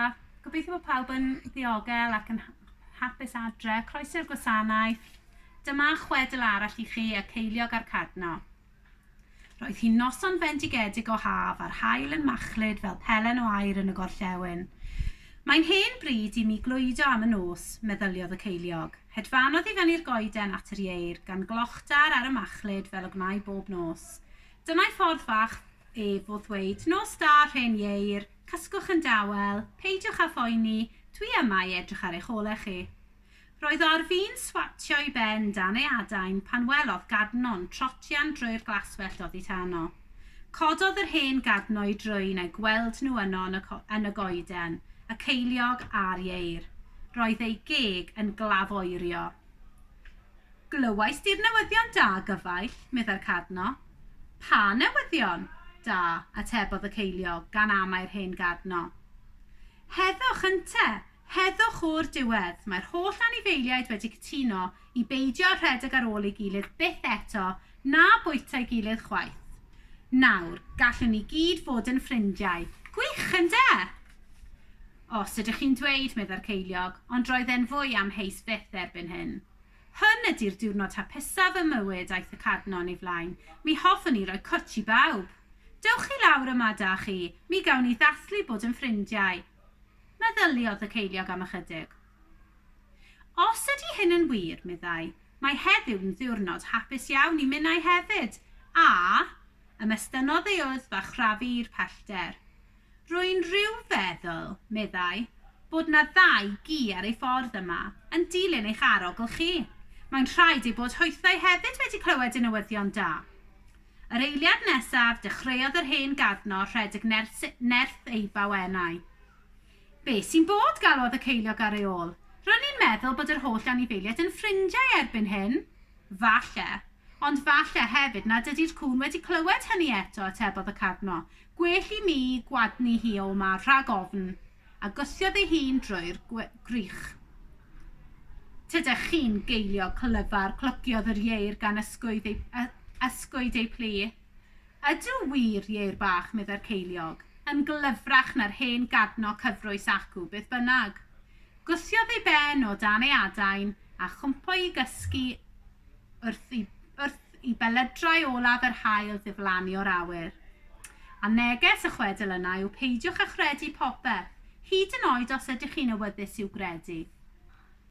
A gobeithio bod pawb yn ddiogel ac yn hapus adre. Croeso i'r gwasanaeth. Dyma chwedl arall i chi, y ceiliog a'r cadno. Roedd hi'n noson fendigedig o haf a'r haul yn machlud fel pelen o air yn y gorllewin. Mae'n hen bryd i mi glwydo am y nos, meddyliodd y ceiliog. Hedfanodd i fyny'r goeden at yr ieir, gan glochtar ar y machlud fel y gwnai bob nos. Dyna'i ffordd fach ef o ddweud, Nos da, rhen ieir! Cysgwch yn dawel, peidiwch â phoeni, dwi yma i edrych ar eich olau chi. Roedd Orfi'n swatio i ben dan ei adain pan welodd Gadno'n trotian drwy'r glaswellt oddi tano. Cododd yr hen Gadno i drwyn eu gweld nhw yno yn y, yn y goeden, y ceiliog a'r ieir. Roedd ei geg yn glafoerio. Glywais di'r newyddion da, gyfaill, meddai'r Cadno. Pa newyddion? Da, atebodd y ceiliog, gan amau'r hen Gadno. Heddwch, ynte! Heddwch o'r diwedd! Mae'r holl anifeiliaid wedi cytuno i beidio â rhedeg ar ôl ei gilydd byth eto, na bwyta'i gilydd chwaith. Nawr, gallwn ni gyd fod yn ffrindiau. Gwych, ynde? Os ydych chi'n dweud, meddai'r ceiliog, ond roedd e'n fwy amheus byth erbyn hyn. Hwn ydi'r diwrnod hapusaf ym mywyd, aeth y Cadnon i flaen. Mi hoffwn i roi cwtsh i bawb. Dewch chi lawr yma, da chi, mi gawn ni ddathlu bod yn ffrindiau. Meddyliodd y ceiliog am ychydig. Os ydi hyn yn wir, meddai, mae heddiw yn ddiwrnod hapus iawn i minnau hefyd, a Ymestynnodd ei wddf a chrafu i'r pellter. Rwy'n rhyw feddwl, meddai, bod 'na ddau gi ar ei ffordd yma, yn dilyn eich arogl chi. Mae'n rhaid eu bod hwythau hefyd wedi clywed y newyddion da. Yr eiliad nesaf, dechreuodd yr hen garno rhedeg nerth, nerth ei bawenau. Be sy'n bod? galwodd y ceiliog ar ei ôl. Ro'n i'n meddwl bod yr holl anifeiliaid yn ffrindiau erbyn hyn. Falle. Ond falle hefyd nad ydi'r cŵn wedi clywed hynny eto, atebodd y carno. Gwell i mi gwadnu hi o 'ma rhag ofn, a gyssiodd ei hun drwy'r gwrych. Tydych chi'n geiliog clyfar, clogiodd yr ieir gan ysgwyd ei, ysgwyd ei plu. Ydw wir, ieir bach, meddai'r ceiliog, yn glyfrach na'r hen gadno cyfrwys acw, beth bynnag. Gyssiodd ei ben o dan ei adain a chwmpo i gysgu wrth, i, wrth Y belydrau olaf yr haul ddiflannu o'r awyr. A neges y chwedl yna yw peidiwch â chredu popeth, hyd yn oed os ydych chi'n awyddus i'w gredu.